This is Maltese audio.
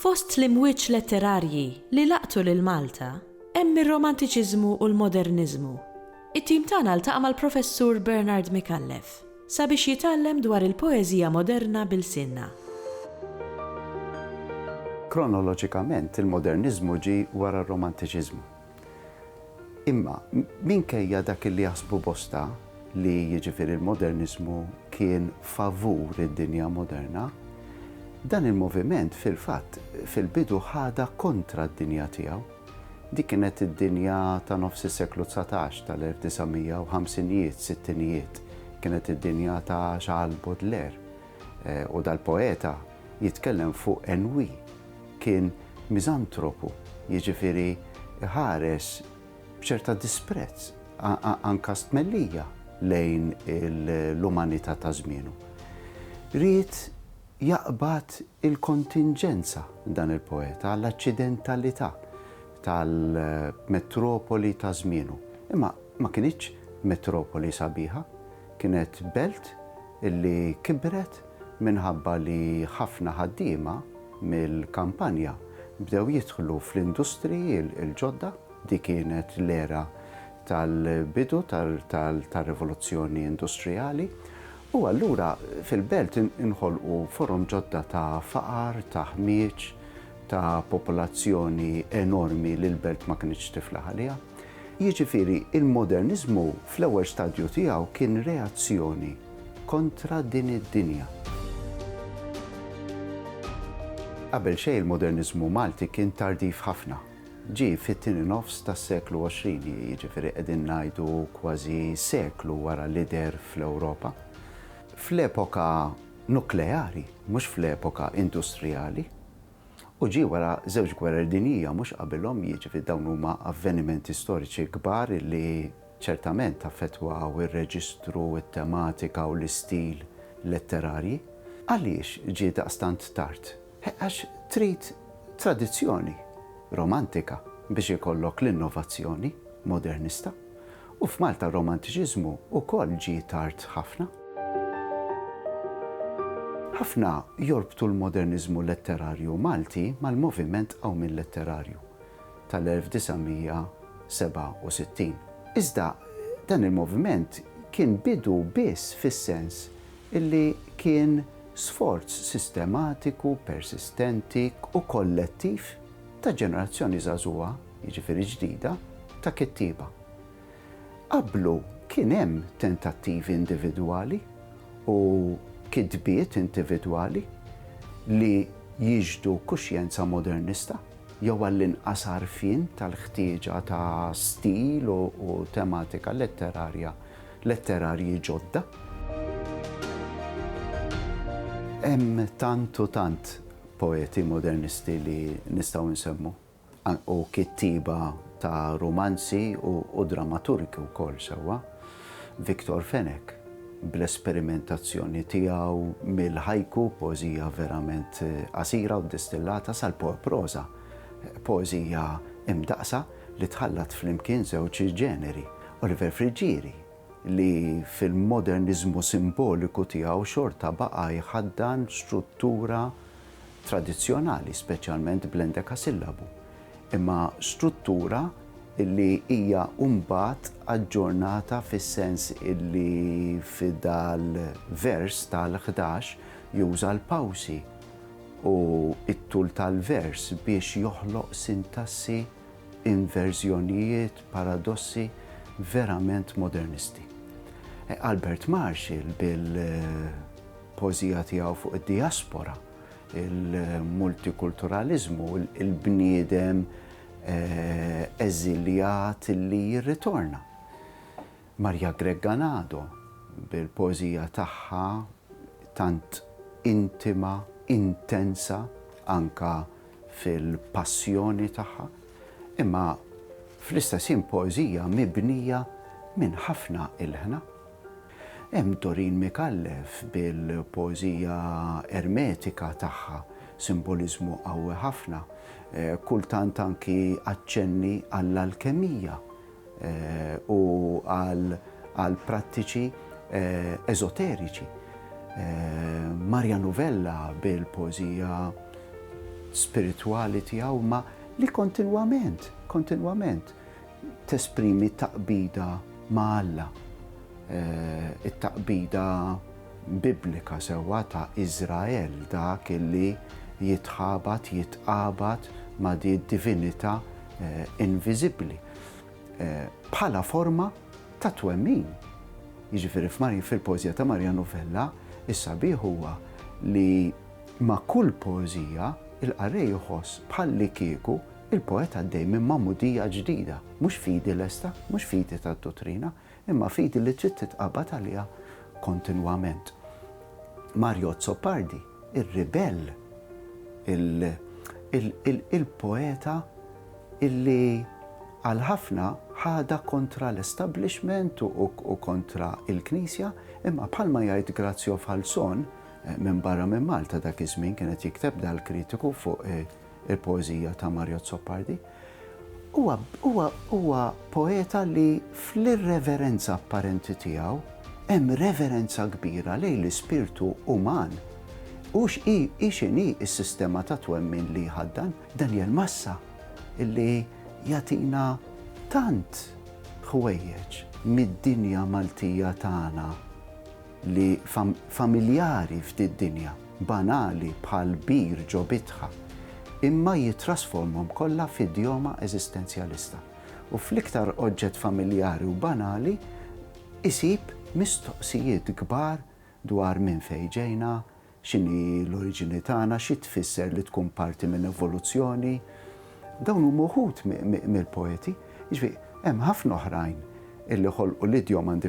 Fost l-imwieġ letterarji li laqtu lil Malta hemm ir-Romantiċiżmu u l-Moderniżmu. It-tim tagħna ltaqa' mal-Professur Bernard Micallef sabiex jitgħallem dwar il-poeżija moderna b'ilsienna. Kronoloġikament, il-Moderniżmu ġie wara r-Romantiċiżmu. Imma, minkejja dak li jaħsbu bosta, li jiġifieri l-moderniżmu kien favur id-dinja moderna, dan il-moviment fil-fatt fil-bidu ħadha kontra d-dinja tiegħu. Dik kienet id-dinja ta' nofs is-seklu dsatax, tal-1950ijiet, sittinijiet. Kienet id-dinja ta' Charles Baudelaire. U dal-poeta jitkellem fuq Enwi, kien miżantropu, jiġifieri iħares b'ċerta disprezz, anke stmellija lejn l-umanità ta' żmienu. Ried jaqbad il-kontinġenza, dan il-poeta, għall-aċċidentalità tal-metropoli ta' żmienu. Imma ma kinitx metropoli sabiħa, kienet belt li kibret, minħabba li ħafna ħaddiema mill-kampanja bdew jidħlu fl-industriji l-ġodda, dik kienet l-era tal-bidu tar-rivoluzzjoni industrijali, u allura fil-belt inħolqu forom ġodda ta' faqar, ta' ħmieġ, ta' popolazzjoni enormi li l-belt ma kinitx tiflaħ għaliha. Jiġifieri, il-moderniżmu fl-ewwel stadju tiegħu kien reazzjoni kontra din id-dinja. Qabel xejn il-moderniżmu Malti kien tardiv ħafna. Ġie fit-tieni nofs tas-seklu għoxrin, jiġifieri qegħdin ngħidu kważi seklu wara li deher fl-Ewropa. Fl-epoka nukleari, mhux fl-epoka industrijali. u ġie wara żewġ gwerer dinjija mhux qabilhom, jiġifieri dawn huma avvenimenti storiċi kbar li ċertament affettwaw ir-reġistru, it-tematika u l-istil letterarji. Għaliex ġie daqstant tard? Għax trid tradizzjoni romantika biex ikollok l-innovazzjoni modernista. U f'Malta r-Romantiċiżmu wkoll ġie tard ħafna. Ħafna jorbtu l-Moderniżmu letterarju Malti mal-moviment Qawmien Letterarju tal-1967. Iżda dan il-moviment kien bidu biss fis-sens li kien sforz sistematiku, persistenti u kollettiv ta' ġenerazzjoni żagħżugħa, jiġifieri ġdida, ta' kittieba. Qablu kien hemm tentattivi individwali u kitbiet individwali li jixhdu kuxjenza modernista jew għall-inqas għarfien tal-ħtieġa ta' stil u tematika letterarja letterarji ġodda. Hemm tant u tant poeti modernisti li nistgħu nsemmu. Hu kittieba ta' rumanzi u drammaturgi wkoll sewwa. Victor Fenech, bl-esperimentazzjoni tiegħu mill-haiku, poeżija verament qasira u distillata, sal-poeproża, poeżija imdaqqsa li tħallat flimkien żewġ ġeneri. Oliver Friggieri, li fil-moderniżmu simboliku tiegħu xorta baqa' jħaddan struttura tradizzjonali, speċjalment bl-endekasillabu, imma struttura li hija mbagħad aġġornata fis-sens li f'dal-vers tal-ħdax juża l-pawsi u t-tul tal-vers biex joħloq sintassi, inverżjonijiet, paradossi verament modernisti. Albert Marshall bil. poeżija tiegħu fuq id-dijaspora, il-multikulturaliżmu, il-bniedem eżiljat li jirritorna. Marja Gregganado bil-poeżija tagħha tant intima, intensa anka fil-passjoni tagħha, imma fl-istess ħin poeżija mibnija minn ħafna ilħna. Hemm Doreen Micallef bil-poeżija ermetika tagħha, simboliżmu qawwi ħafna, kultant anki aċċenni għall-alkemija u għal prattiċi eżoteriċi. Marja Novella bil-poeżija spiritwali tiegħu ma li kontinwament, kontinwament, tesprimi t-taqbida ma' Alla, it-taqbida Biblika sewwa ta' Iżrael, dak li jitħabat, jitqabad ma' din id-divinità inviżibbli, bħala forma ta' twemmin. Jiġifieri fil-poeżija ta' Maria Novella, is-sabiħ huwa li ma' kull poeżija, il-qarrej iħoss bħallikieku Il-poeta għaddej minn magħmudija ġdida, mhux fidi lesta, mhux fidi tad-duttrina, imma fidi li trid titqabad għaliha kontinwament. Mario Azzopardi, ir-ribell, il-poeta illi għal ħafna ħadha kontra l-establishment u kontra l-Knisja, imma bħalma jgħid Grazio Falzon, minbarra minn Malta dak iż-żmien kien qed jikteb dal-kritiku fuq il-poeżija ta' Mario Azzopardi, huwa huwa huwa poeta li fl-irreverenza apparenti tiegħu hemm reverenza kbira lejn l-ispirtu uman. Hux hi hi x'inhi s-sistema ta' twemmin li jħaddan. Daniel Massa li jagħtina tant ħwejjeġ mid-dinja Maltija tagħna. li familjari f'di dinja, banali bħal bir ġo bitħa, imma jittrasformhom kollha f'idjoma eżistenzjalista, u fl-iktar oġġett familjari u banali isib mistoqsijiet kbar dwar minn fejn ġejna, x'inhi l-oriġini tagħna, xi tfisser li tkun parti minn evoluzzjoni. Dawn huma wħud mill-poeti, jiġifieri hemm ħafna oħrajn illi ħolqu l-idjoma